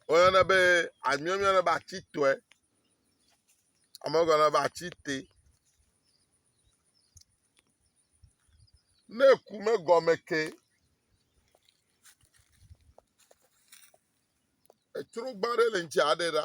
Woyɔnɛ be, amia woyɔnɛ be atitɔe, ame gɔnɔ be atite. Ne eku me gɔme ke, etrogba ɖe le ŋuti aɖe ɖa.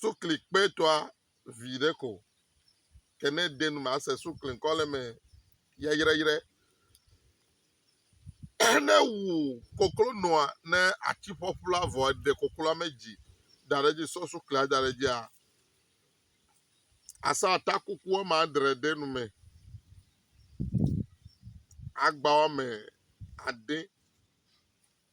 sukli kpetɔa vi ɖe ko ke ne ede nu me ase sukli ŋkɔ le eme yayrayrɛ. Ne wu koklo nɔa ne atsi ƒɔƒu la vɔ eɖe kokloa me dzi da ɖe edzi sɔ suklia da ɖe edzia asa atakuku wɔme adre ɖe nu me. Agba wɔme ade.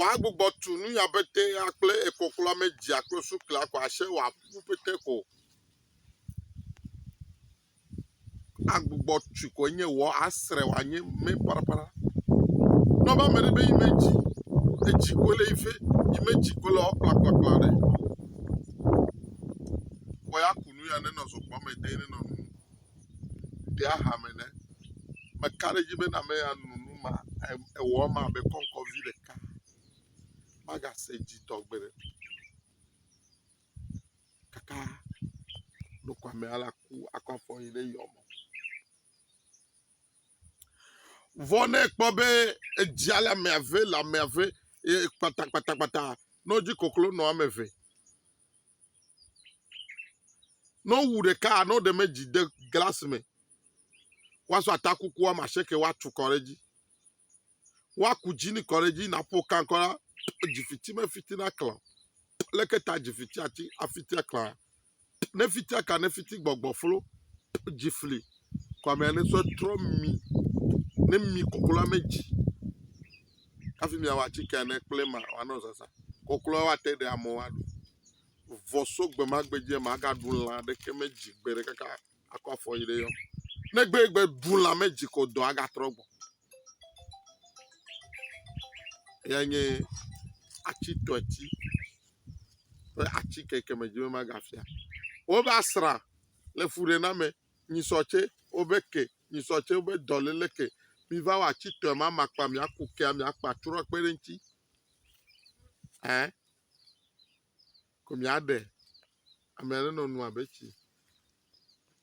kɔa gbugbɔ tu nu ya pete ya kple ekɔ kple ame dzia kple sukla kɔ ashe wa ku pete ko. Agbugbɔ tu ko nye wɔ asre wa nye me para para. Nɔba me be ime dzi edzi ko le ife ime dzi ko le ɔkpla kpla kpla ɖe. Kɔ ya ku nu ya ne nɔ zokpɔ me de ne nɔ nu. ɖe aha me ne meka ɖe edzi be na ame ya no nu ma ewɔ ema abe kɔŋkɔvi ɖeka magase dzidzɔ gbeɖe kaka ɖokuamea la ku akɔ afɔ yi ɖe yɔ me. Vɔ ne ekpɔ be edzia le ame eve le ame eve e, kpatakpatakpata nɔ dzi koklo nɔ ame eve Ne wowu ɖeka ne woɖe me dzi de glas me, woasɔ atakuku woame asieke woatu kɔ ɖe edzi. Woaku dzinɛ kɔ ɖe edzi naƒo kan kɔ ɖa p dzi fiti mefiti naklã o. Leke ta dzi fiti ati afiti aklã? Ne fiti aka ne fiti gbɔgbɔ flo p dzi fli kɔmea ne sɔ trɔ mi ne mi koklo ame dzi. hafi miawɔ atike ne kple ma wòanɔ zazã. Kɔklɔ woate ɖe amewo aɖu. Vɔ so gbe ma gbe dzia, magaɖu lã aɖeke me dzi gbe ɖe kaka akɔ afɔ yi ɖe yɔ. Ne gbe gbe ɖu lã me dzi ko dɔ agatrɔ gbɔ. Ya nye atsi tɔɛtsi ƒe atsi keke me dzi be magafia. Wobe asra le fuɖename. nyisɔ tsɛ wobe ke, nyisɔ tsɛ wobe dɔléle ke. Miva wɔ atitɔe ma makpa miaku kea miakpa trɔ kpe ɖe eŋuti. Ɛ ko miaɖe ame aɖe nɔ nu abe tsi.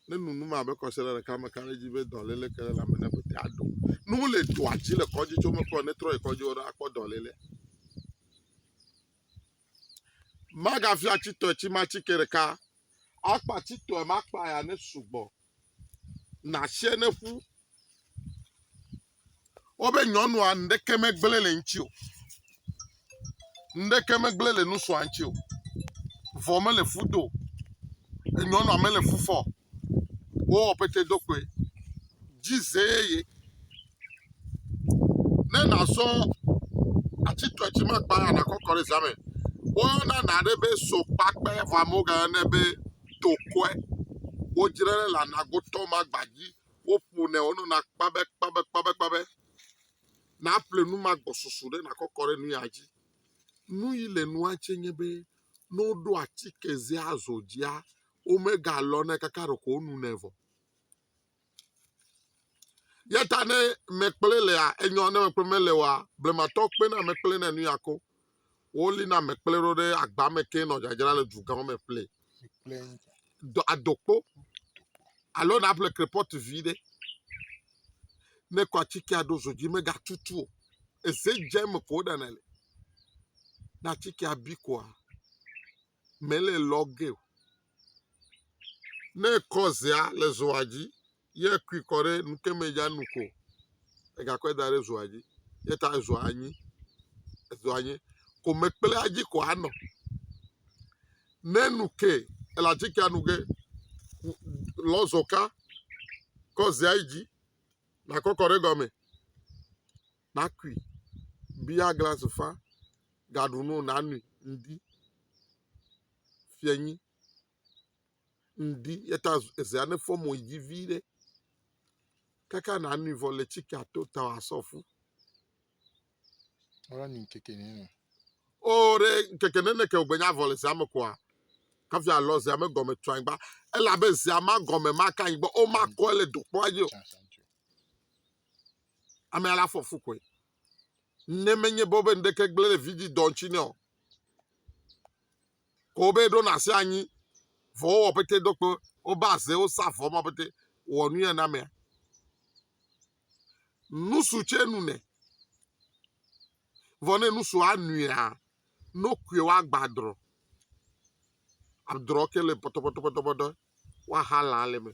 Ne nu nu ma abe kɔsiɖa ɖeka me ka ɖe edzi be dɔléle ke ɖe lãme ne ƒete aɖo. Ne wole dɔa dzi le kɔdzi tso mekpɔ ne trɔ yi kɔdzi wo ɖa akpɔ dɔléle. Magafia atitɔe tsi ma atike ɖeka Akpati tɔe ma kpa ya ne sugbɔ. Nashɛ ne ƒu. Wobe nyɔnua ŋɖeke me gblẽ le ŋtsi o. Ŋɖeke me gblẽ le nusua ŋtsi o. Vɔ me le fu do. Enyɔnua me le fu fɔ. Wo wɔ pete do kpoe. Dzi zee ye. ne nàzɔ ati tɔ dzi ma kpa anakɔ kɔ ɖe zame. Woyɔna na ɖe be sokpakpe vɔ amewo gayɔ ne be tokɔe. Wodzre le anagotɔ ma gba dzi. Woƒo ne wonɔ na kpabe kpabe kpabe kpabe. Na ƒle nu ma gbɔsusu ɖe nakɔ kɔ ɖe nu ya dzi. Nu yi le nua tse nye be ne woɖo atike zea zɔ dzia, wome galɔ ne kaka ɖeko wonu nɛ vɔ. Ya ta ne mekplɔe lea, enyɔ ne mekplɔ mele oa, blematɔ kpena mekplɔe ne nuya ko. Woli na mekplɔe ɖo ɖe agba me ke nɔ dzadzra le dugãwo me ƒle. Adokpo alo na ƒle krepɔt vi ɖe. Ne kɔ atikea ɖo zo dzi megatutu o. Eze dze eme ko woɖana le. Ne atikea bi koa. mele lɔ ge o. Ne ekɔ zea le zoa dzi ye ekui kɔ ɖe nu ke me ya nu ko egakɔe da ɖe zoa dzi ye ta ezoa anyi ezoa anyi ko mekplea dzi ko anɔ. Ne nu ke ele atikea nu ge lɔ zoka kɔ zea yi dzi nakɔ kɔ ɖe egɔme nakui bia glasi fa gaɖu no nanui ŋdi fianyi ŋdi eyata ezea ne fɔ mo yi dzi viɖe kaka nanui vɔ le tsika to ta asɔ fu wala ni ŋkeke ni no o ɖe ŋkeke ne neke o gbenya vɔ le zea me koa hafi alɔ zea me gɔme tu anyigba elabe zea ma gɔme maka anyigba o makɔe le dokpɔa dzi o Amea la fɔ fu koe. Ne menye be wobe ŋɖeke gblẽ ɖe vidzĩ dɔ ŋuti nɛ o. Ko wobe ɖona asi anyi vɔ wowɔ pete do kpe wobe aze wosa vɔ ma pete wɔ nu ya na amea. Nusu tsɛ nu nɛ. Vɔ ne nusu anuia, nokue woagbadrɔ. Adrɔ ke le pɔtɔpɔtɔpɔtɔpɔtɔ. woaxa lã le eme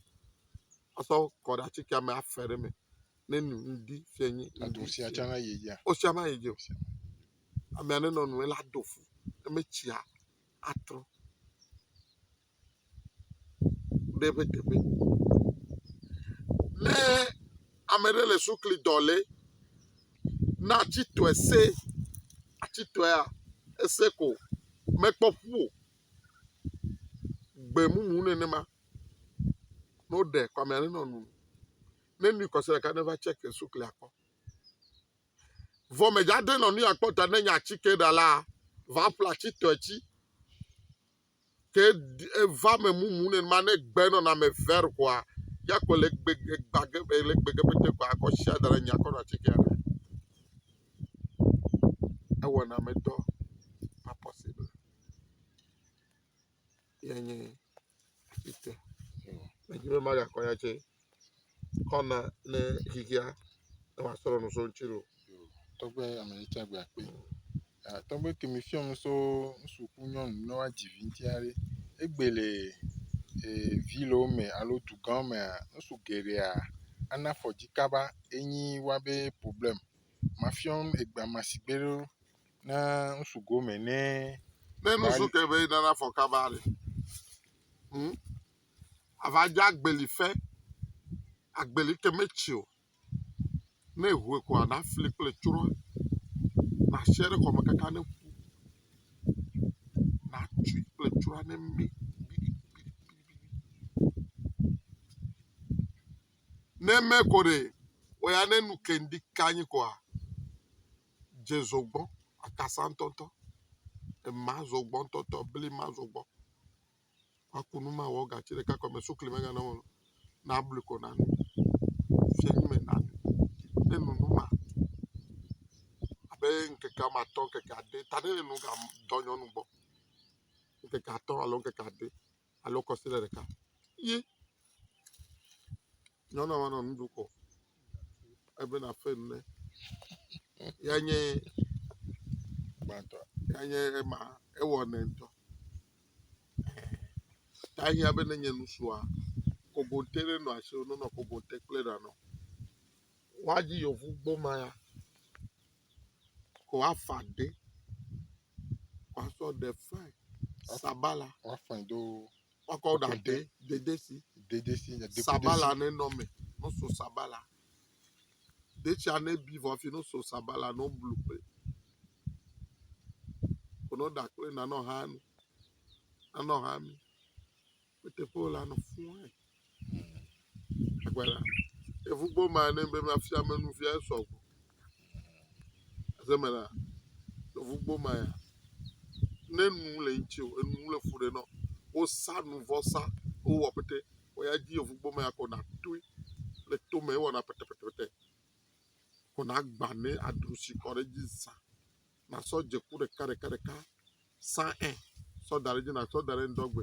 asɔ kɔ ɖe atikea me afe ɖe eme ne nu ŋdi fia nyi ŋdi. Edu sia tsã na yi dzi. Wosia na yi dzi o. Amea nenɔ nu ela do fu ne metsia atrɔ ɖe eƒe teƒe. Ne ame ɖe le sukli dɔ le na atsitɔe se atsitɔea ese ko mekpɔ ƒu o. gbemumu nenema ne woɖe kɔmea nenɔ nu ne nui kɔse ɖeka neva check suklia kpɔ vɔ medza de nɔ nuya kpɔ ta ne nya atike ɖa la va ƒle atitɔe tsi ke eva me mumu nenema ne gbe nɔnɔme ver koa ya kpɔ le gbe gba ge le gbe ge pete koa akɔ sia da ɖe nya kɔ nɔ atike ɖa ewɔna medɔ pas possible ye nye ete. Medzi be magakɔ ya tse kɔna ne xexea ne wòasrɔ̃ nu so ŋuti loo. Tɔgbe ame yi tse agbe akpe. Ah, Tɔgbe ke mi fiɔ nu so ŋsu ku nyɔnu ne woadzi vi ŋuti aɖe. Egbe le eh, vi le wo me alo dugã mea, ŋsu geɖea ana afɔ dzi kaba enyi woabe problɛm. Mafiɔn egbea ma sigbe ɖo Ne ŋsu gome nɛ. Ne nusu ke be nana fɔ kaba le. Hmm? Ava dze agbeli fe. Agbeli ke metsi o. Ne ehue ko ana fli kple tsroa. Na sia ɖe kɔme kaka ne ƒu. Na tsui kple tsroa ne mi. Ne me ko ɖe, oya ne nu kendi kanyi koa. dze zogbɔ akasa ŋtɔŋtɔ, ema zogbɔ ŋtɔŋtɔ, bli ma zogbɔ. Maku nu mawɔ gatsi ɖeka ko me, sukli megana mɔ nu. Nablu ko nano. Fiyedzi me nano. Ne enu nu ma abe ŋkeke ame atɔ̃, ŋkeke ade ta ne enu ga dɔ nyɔnu gbɔ. Ŋkeke atɔ̃ alo ŋkeke ade. alo kɔsiɖe ɖeka ye nyɔnua ma nɔ nu ɖu ko ebe nafe nu ne ya nye gbãtɔ ya nye ema ewɔ nɛ ŋutɔ ta hiã be ne nye nusua kogote ɖe nɔ asi o nɔnɔ kogote kple ɖa nɔ woadzi yevu gboma ya Woafa ɖe, woasɔ ɖe fae, sabala. Woafa do. Woakɔ ɖa ɖe dedesi. Dedesi nya deku. Sabala ne nɔ me, no so sabala. Detsia ne bi vɔ fi no so sabala no blu kple. Kono ɖa kple nanɔ hanu. Nanɔ hami. Eteƒe wòle anɔ fũu ɛ. Agbala. Eŋu gbɔ ma ne be mafia me nu fia esɔ gbɔ. Azeme la, eŋu gbɔ ma ya. Ne nu le ŋuti o, enu le fu ɖe nɔ. Wosa nu vɔsa, wowɔ pete. Woya dzi eŋu gbɔ ma ya kɔ na toe le tome ewɔna pɛtɛpɛtɛpɛtɛ. Kɔ na agba ne adro si kɔ ɖe dzi zã. nasɔ dze ku ɖeka ɖeka ɖeka sã ɛ sɔ da ɖe dzi natsɔ da ɖe ŋdɔgbe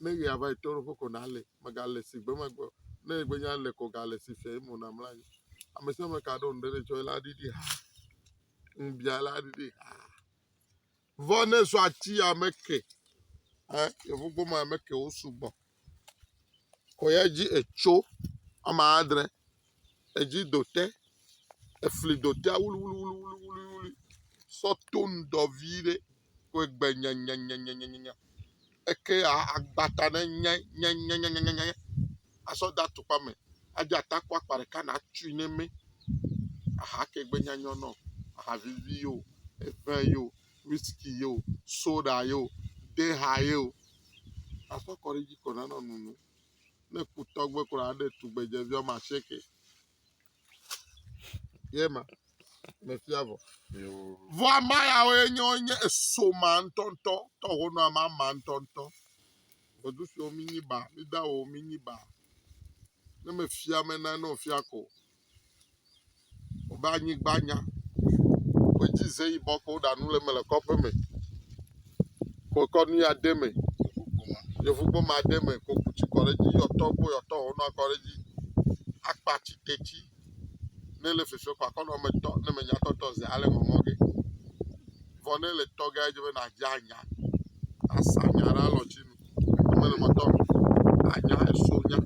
ne ɣea va yi to ɖoƒe ko nalɛ megale si gbe megbe ne egbe nya le ko gale si fia yi mo namla anyi ame sia ame ka ɖo ŋɖe ɖe tsɔ la ɖiɖi ha ŋbia la ɖiɖi ha vɔ ne sɔ atsi ya me ke ɛ yevugbɔ ma me ke wo sugbɔ kɔ ya dzi etso ama adre, edzi do te, efli do tea wluiwluiwluiwlui sɔ to ŋdɔ vie ɖe kɔe gbe nyanyanyanya eke ya agba ta ɖe nyanyanyanya asɔ de atukpa me adzɔ atakɔ akpa ɖeka na tui ne eme aha ke gbe nyanyɔ nɔ aha vivi yo, eŋe yo. whisky ye o, soɖa ye o, deha ye o, aƒe kɔ ɖe edzi ko nanɔ nono. Ne ku tɔgbe kura aɖe tugbedzevi wɔme asieke. Ye ma mefia vɔ. Vɔ ama yawo ye nye wonye eso ma ŋutɔŋutɔ, tɔ honɔ ama ma ŋutɔŋutɔ. Gbɔdu siwo mi nyi ba, mi da wo mi nyi ba. Ne mefia me na ne ofia ko. wobe anyigba nya, wobe dzi ze yibɔ ke woɖa nu le eme le kɔƒe me, wokɔ nu ya de me, yevuboma de me ko ku tsi kɔ ɖe edzi yɔtɔ kple yɔtɔ wɔ nua kɔ ɖe edzi, akpa tsi detsi ne le fefe kɔ akɔ nɔ me tɔ ne me nya tɔ tɔ zi ale mɔ mɔ ge vɔ ne le tɔ ge edze be na dze anya asa nya ɖe alɔ tsi nu mele mɔ tɔ anya eso nya.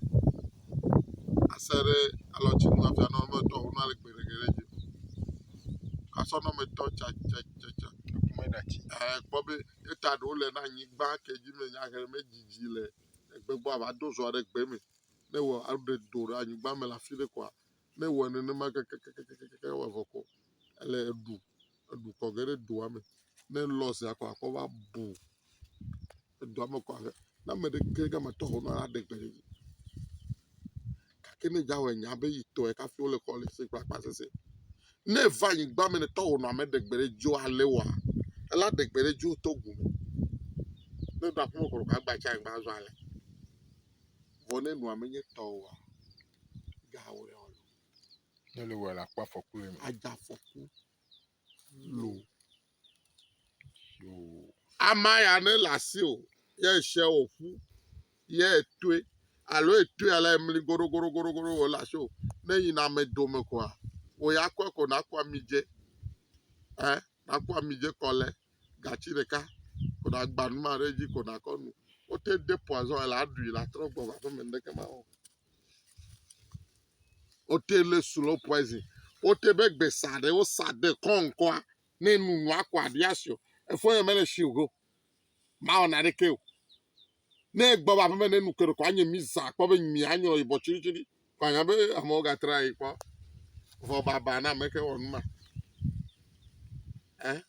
ase ɖe alɔtsinu hafi anɔ eme etɔ̃ wona le gbeɖegbeɖe dzi asɔ nɔ eme etɔ̃ tsatsatsatsa e ekpɔ be eta ɖewo le ɖe anyigba ke dzi me nyahe medidi le egbe gbɔ ava do zɔa ɖe gbe me ne wɔ aɖe do ɖe anyigba me le afi ɖe koa ne wɔ nenema kekekekeke ewɔ vɔ ko ele eɖu eɖu kɔ ge ɖe doa me ne lɔzia koa akɔ va bu. edua me kɔ abe ne ame ɖe ke ɖe eme tɔ ho ne woaɖe gbe ɖe dzi gake ne dza wɔ nya be yi tɔe kafi wole xɔ le se kple akpa sese. Ne eva anyigba me ne tɔ ho nɔ ame ɖe gbe ɖe dzi o ale wɔa ela ɖe gbe ɖe dzi o tɔ gu me. Ne ɖo aƒeme kɔ ɖe agba tsi anyigba azɔ ale. Vɔ ne nua menye tɔ oa gawɔ ya o. Ne le wɔ la kpɔ afɔku le eme. Adza afɔku lo. Ama ya ne le asi o ye eshɛ o ƒu ye etoe alo etoe ale emli goɖogoɖogoɖo o le asi o ne yi na ame dome koa wò ya kɔe ko naku amidze ɛ naku amidze kɔ le gatsi ɖeka ko nagba numa ɖe edzi ko nakɔ nu wote de poison ela ɖui la trɔ gbɔ va ƒeme ŋɖeke ma wɔ o. Wote le slow poison. Wote be gbe sa ɖe wo sa de kɔn ŋkɔa ne nu nua kɔ aɖi asi o. Efɔ yɔ mele shi o go. Ma wɔ na ɖe ke o. Ne gbɔ ba me ne nu kɔ ɖe kɔ anye mi sa kpɔ be mi anyo ibɔ tsiri tsiri. Kɔ anya be amewo ga tra yi kpɔ. Vɔ baba na me ke wɔ nu ma. Eh?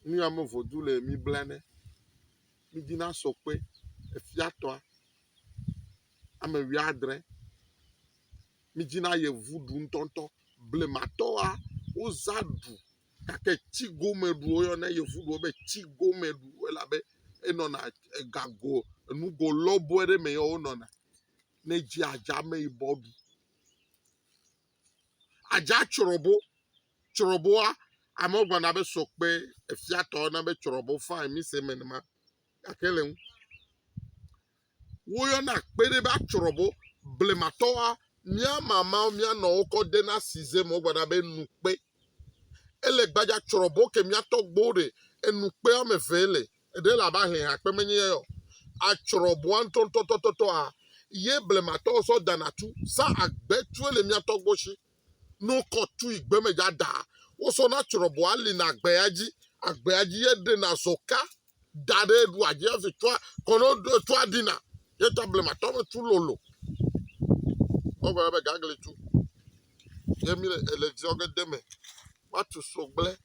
Nuya me vodzu le mi blanɛ. Mi dzi na sɔ kpe efia tɔa ame wi adre. Mi dzi na yevu ɖu ŋutɔŋutɔ. Blematɔa wo zã ɖu gake tsi gome ɖu wo yɔ na yevu ɖu be tsi gome ɖu elabe enɔna egago enugo lɔbɔe ɖe me yɔ wo nɔna. Ne dzi adza ame yibɔ ɖu. Adza tsrɔbo, tsrɔboa, amewo gblɔna be sɔkpe, efiatɔ na be tsrɔbo fine mi se me ma gake le ŋu. Woyɔna kpe ɖe be atsrɔbo, blematɔwoa, mía mamawo, mía nɔwo kɔ dena size me wogblɔna be nukpe. Ele gbadza tsrɔbo ke mía tɔgbuiwo ɖe, enukpe woame eve ele. Ɖe le abe ahlẽ akpe menye ya o, atsrɔ bua ŋtɔŋtɔtɔtɔa, ye blematɔwo sɔ dana tu, sa agbe tue le mia tɔgbo shi, no kɔ tui gbeme dza daa, wo sɔ na tsrɔ bua lina agbea dzi, agbea dzi ye ɖena zɔka da ɖe ɖua dzi afi tua kɔnɔ tua ɖina, ye ta blematɔa be tu lolo. Wo gbe be gagli tu, ye mi le ziɔ ge deme, wa tu sogble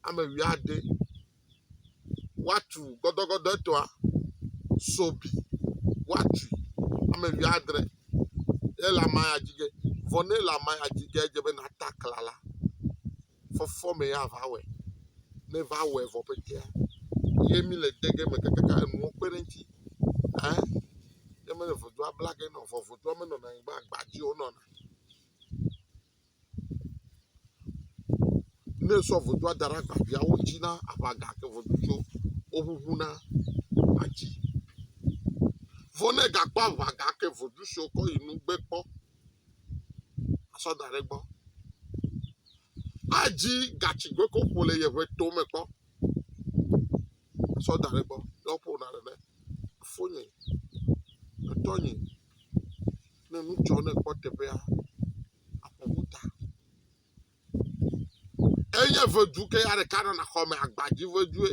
ame wui ade. woatu gɔdɔgɔdɔɛtɔa, so bi, woatui, ame wuiadre, ye le ame ya dzi ge. Vɔ ne le ame ya dzi ge edze be nàta aklã la, fɔfɔ mee ava wɔe. Ne va wɔe vɔ ƒetea, ye mí le de ge me kakaka enuwo kpe ɖe eŋuti. Ẽ? Ne mele vodua bla ge na o, vɔ vodua menɔna anyi be agba dzie wonɔna. Ne esɔ vodua da ɖe agbaviawo dzi na aʋa gake vodutswo woʋuʋuna atsi. Vɔ ne egakpɔ aʋa gake vodu si wokɔ yi nu gbe kpɔ asɔ da ɖe egbɔ. Adzi gatsi gake woƒo le yeƒe to me kpɔ asɔ da ɖe egbɔ. Ne woƒona nene, foinye, etɔnye. ne nu dzɔ ne kpɔ teƒea akpɔ ƒuta enye vedu ke ya ɖeka nana xɔ me agbadzi vedue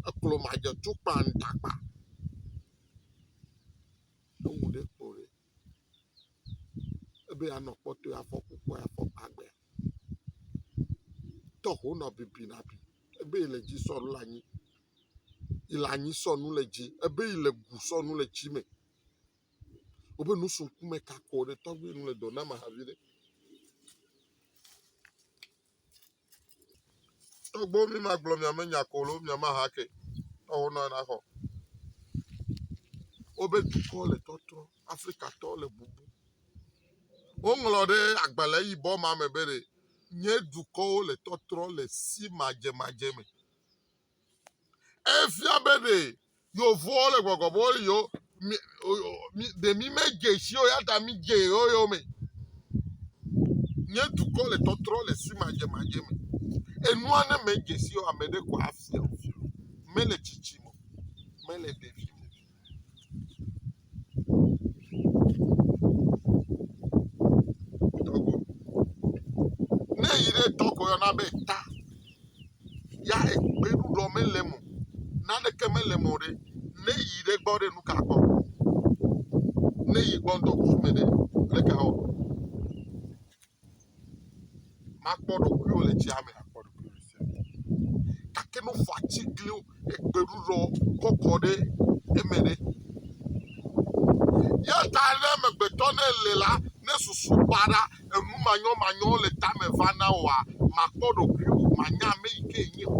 eklo madze tukpa ŋtakpa ewu ɖe kpo ɖe ebe anɔ kpɔtɔ afɔ kukua afɔ agbe tɔho nɔ bibi na bi ebe le dzi sɔ la nyi ìle anyi sɔnu le dzi ebe ìle gu sɔnu le tsi me Woƒe nu su ŋkume kakɔ ɖe tɔgbi nu le dɔ na ma hafi ɖe. Tɔgbo mi ma gblɔ mia me nya kolo mia ma ha ke. Tɔwo nɔ na xɔ. Wobe dukɔ le tɔtrɔ. Afrika tɔ le bubu. Woŋlɔ ɖe agbalẽ yibɔ ma me be ɖe nye dukɔwo le tɔtrɔ le si madze madze me. Efia be ɖe yewovoa wole gbɔgbɔ be wole yewo mi mi ɖe mi medze si o ya ta midze yewo yome. Nye dukɔ le tɔtrɔ le simadzemadze me. Enua ne medze si o ame ɖe ko afia wò. Mele tsitsi me o, mele ɖevi me o. Ne eyi ɖe tɔ ko yɔna be ta. Ya gbeɖuɖɔ mele eme o. Naneke mele eme o ɖe, ne eyi ɖe gbɔ ɖe, nu ka gbɔ? Ne eyi gbɔ ŋdɔkusu me ɖe, leke awɔ? Makpɔ ɖokuiwò le tsia me. Akpɔ ɖokuiwò le tsia me. Gake ne wofɔ atiglinyiwo, egbeɖuɖɔ kɔkɔ ɖe eme ɖe. Eya ta ne amegbetɔ ne le la, ne susu baɖa, enu manyɔmanyɔwo le tame va na wòa, màkpɔ ɖokuiwò o, mànya ame yi ke nènye o.